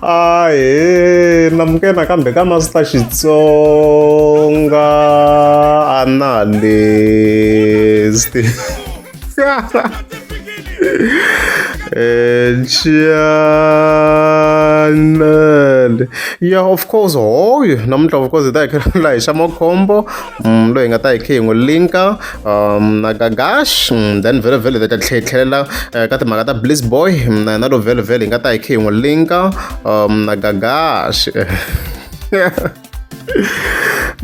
a he namke nakambe ka master xitsonga a na lesti channel yeah of course hoyo namuntlha of course hi ta hi khelula hi xa makhombo mm, loyi hi nga ta hi khe hi n'wi linka um na gagash mm, then vhele vhele ta tlhetlhelela eh, ka timhaka ta bliss boy mm, na yena lo vhele vhele hi nga ta hi khe hi n'wi linka um na gagash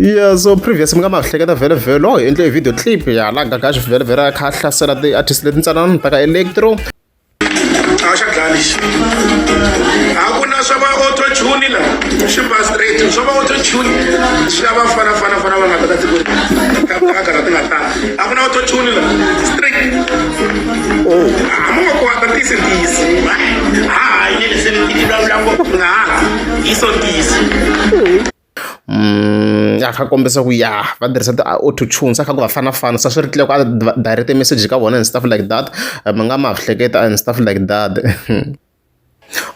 yeah so previous mi nga ma hleketa vhele vhele oh hi endle video clip ya la gagash vhele vhele a kha a hlasela ti-artist leti ntsanana ta ka electro a xa dlaya lexi a ku na swa va autotune la swi ba straight swa va autotune swi lava fana fana fana va nga ta ka tikweni ka kagara ti nga tala a ku na autotune la straight o oh, a mo nga kwata tisi tisi ha ha yele se ni ti vulavula ngopfu nga ha hi so tisi a kha kombisa ku ya va tirhisa ti auto tunes a kha ku va fana fana se swi ri tlhela ku a direct message ka vona and stuff like that mi nga ma hleketa and stuff like that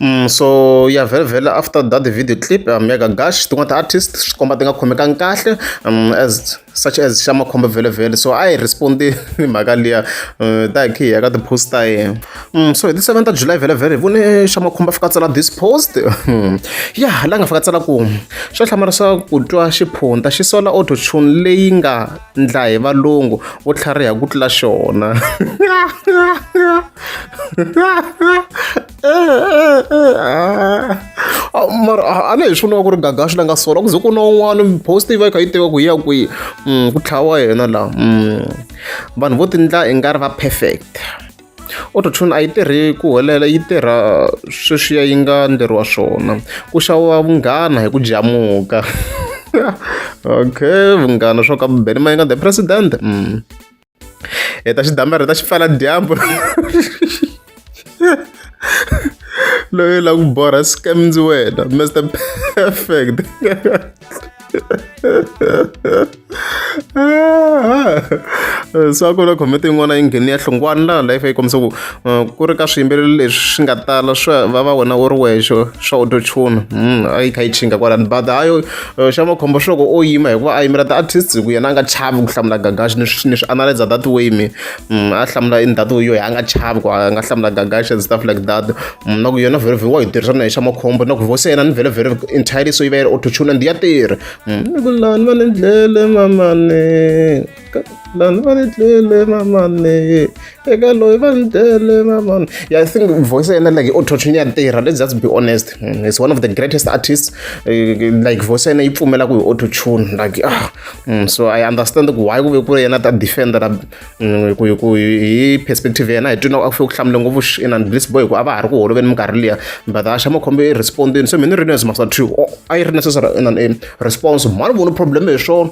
Mm, so ya vhele vhele after that video clip um, ya ka gash tin'wana ti-artist swi komba ti nga khomekangi kahle um, as such as xa makhombo vhelovhelo so a hi respond-i hi mhaka liya um ta hi khi hi ya ka ti-post ta yena um so hi ti seven ta july vhelovhelo hi vone xa makhombo a fika a tsala this post hmm. ya la nga fika tsala ku xa hlamala swa ku twa xiphunta xi sola auto tune leyi nga ndla hi valungu vo tlhariha ku tlula xona Ah, mara ah, a ni hi swi vona ku ri gagaxi la nga sola ku ze ku na un'wana post yi va yi kha yi tiva ku yi ya kwihi mm, ku tlhawa yena laha mm. vanhu vo tindla i nga ri va perfect autotune a yi tirhi ku helela yi tirha sweswiya yi nga ndleriwa swona ku xaviwa vunghana hi ku jamuka okay vunghana swo ka beni ma yi nga the president mm. hi ta xi damarhi ta xi pfala dyambu loyi la ku borha scam ndzi wena mr perfect so a ku na comment yin'wana yi ngheni ya hlungwana laha life yi kombisa ku uh, ku ri ka swiyimbeleri leswi swi nga tala swa va va wena u ri wexe swa autotune mm, a yi kha yi chinga kwalani but hayo Eh, xa makhombo swi loko o yima hikuva a yimela ti-artist hi ku yena a nga chavi ku hlamula gagaxi ni swi ni swi analyza that way me mm, a hlamula in that way yoyi a nga chavi ku a nga hlamula gagaxi and stuff like that Mm, na ku yona very very wa yi tirhisa na hi xa makhombo na ku voice ya yena ni very very entirely so yi va yi ri autotune and ya tirha Mm, ni ku lani va ni dlele mamane lani va ni tlele mamane eka loyi va ni tlele mamane yeah i think voice yena like autotune ya tirha let's just be honest mm, it's one of the greatest artists eh, like voice yena yi pfumela ku hi autotune like ah mm, so i understand ku why ku ve ku ri yena ta defender la mm, ku ku hi perspective yena hi twina a fike ku hlamule ngopfu in and bliss boy ku a va ha ri ku holoveni minkarhi liya but axa makhombo i respondini so mina ri ni as masa two i ri necessary in an response mhani vona problem hi swona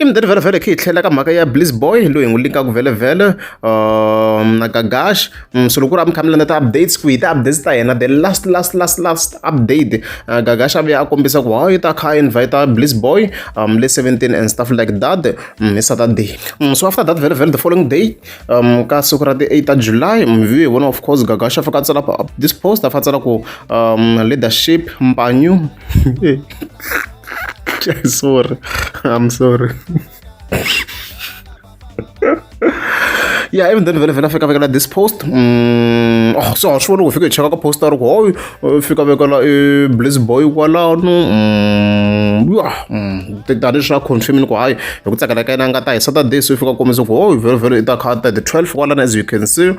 i mudeni vhelovhelo khe hi tlhela ka mhaka ya bliss boy loyi hi n'wi linkaka vhelovhelo um, na gagash mm, so loko ku ri a mi kha mi landza ti-updates ku hi ti-updates ta yena the last last last last update uh, gagash a vuya a kombisa ku hayi ta kha invita bliss boy um, le 17 and stuff like that mm, hi saturday mm, so after that vhelovhelo the following day um, ka siku ra ti-8 ta july mvi hi vona of course gagash a fika a tsala this post a fa tsala ku um, leadership mpanyu sorry i'm sorry yeah even then vele vele afika vekela this post mm, oh, so a swi voni ku fika hi cheka ka post a ri ku hoy uh, fika vekela i uh, blaze boy kwalano mm, ya mm, tani swa confirmini ku hayi hi ku tsakela ka yena nga ta hi saturday so i fika kombisa ku hoy vele vele i ta kha ta the 12 kwalana as you can see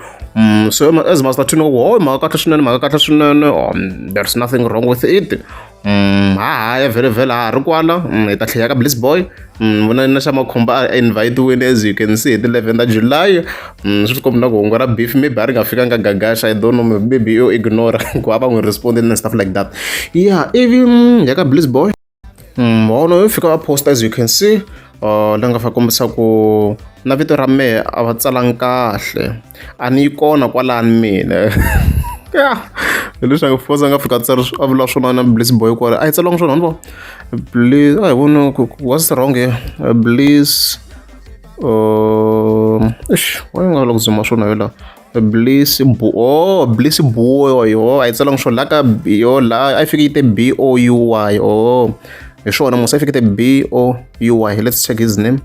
so as master tune ku hoy mhaka kahle swinene mhaka kahle swinene oh, there's nothing wrong with it Mm, ha ha ya vhele vhele ha ri kwala mm, hi ta tlheya ka bliss boy mm, vona na xa makhumba a invitiwini as you can see hi ti 11 ta july swi tikombi na ku hungu ra beef maybe a ri nga fikanga gagasha i don't know maybe yo ignore ku a va n'wi respond and stuff like that yeah ivi ya ka bliss boy hono yo fika va post as you can see uh, ni nga fa kombisa ku na vito ra mehe a va tsalangi kahle a ni yi kona kwalani mina hileswaku fosa nga fika tsari a vula swin'wana na bliss boy kwale a yi tsaliwanga swona ni vo bliss a hi voni what's wrong here bliss um eish wa yi nga lava ku zuma swona yo laha bliss bu oh bliss buo yo a yi tsala ngisho la ka yo la a yi fike yi te b o u y oh hi swona musa a yi fike te b o u y let's check his name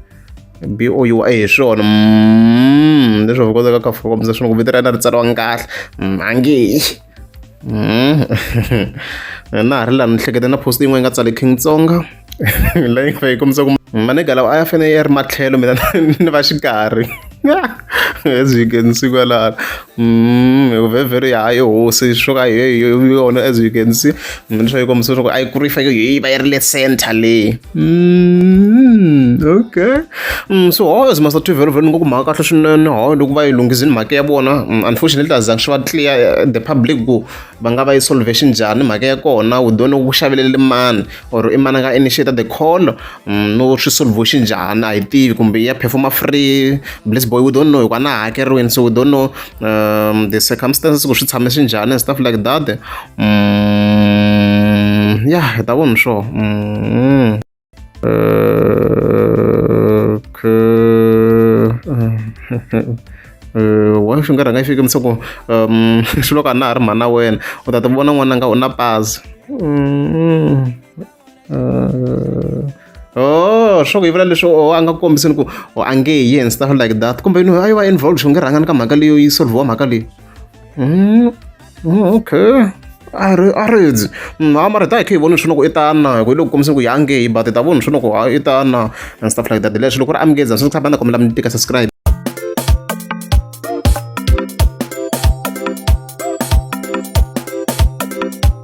b o u y hi swona mm, leswi va kotaka ka fika kumbe swona ku vito ra yena ri tsariwanga kahle mm, ange Hmm. na ha ri laha ni hleketa na post yin'we yi nga tsale king tsonga leyi nga yi kombisa ku manega lawa a ya fanele ya ri matlhelo mina ni va xikarhi as you can see kwalala mm vhevheri ya yo hosi swo ka yona as you can see leswaku yi kombisa leswaku a yi kuri yi fanele yi va yi ri le center leyi Mm, okay mm, so how as master twivhelo vhelo ni ngo ku mhaka kahle swinene how loko va yi lunghizini mhaka ya vona mm, unfortunately a zangi swi va clear eh, the public ku va nga va yi solvation njhani mhaka ya kona u done ku xavelele mani or i mani nga initiate the call mm, no swi solvation njhani a yi tivi kumbe ya performa free bless boy u don't know hikuva na hakeriweni so u don't know um, the circumstances ku swi tshame swi njhani and stuff like that mm, yeah hi ta vona sure mm. uh, uh, wa swi nga rhanga xi kemisa ku um swi loko a na ha ri mhana wena u ta ti vona n'wana nga u na pazi mm. Uh, oh swo ku yi vula leswi oh, a nga ku kombisini ku oh, a nge yi and stuff like that kumbe yini a yi va involved xi nge rhangani ka mhaka leyo yi solviwa mhaka leyi mm, mm, okay a ri a ri dzi mm, a mara ta hi khe hi voni swi loko i tana hi loko kombisini ku yi a nge yi but hi ta voni swi loko i tana and stuff like that leswi loko ri amukeza swi tshama na kombela mi tika subscribe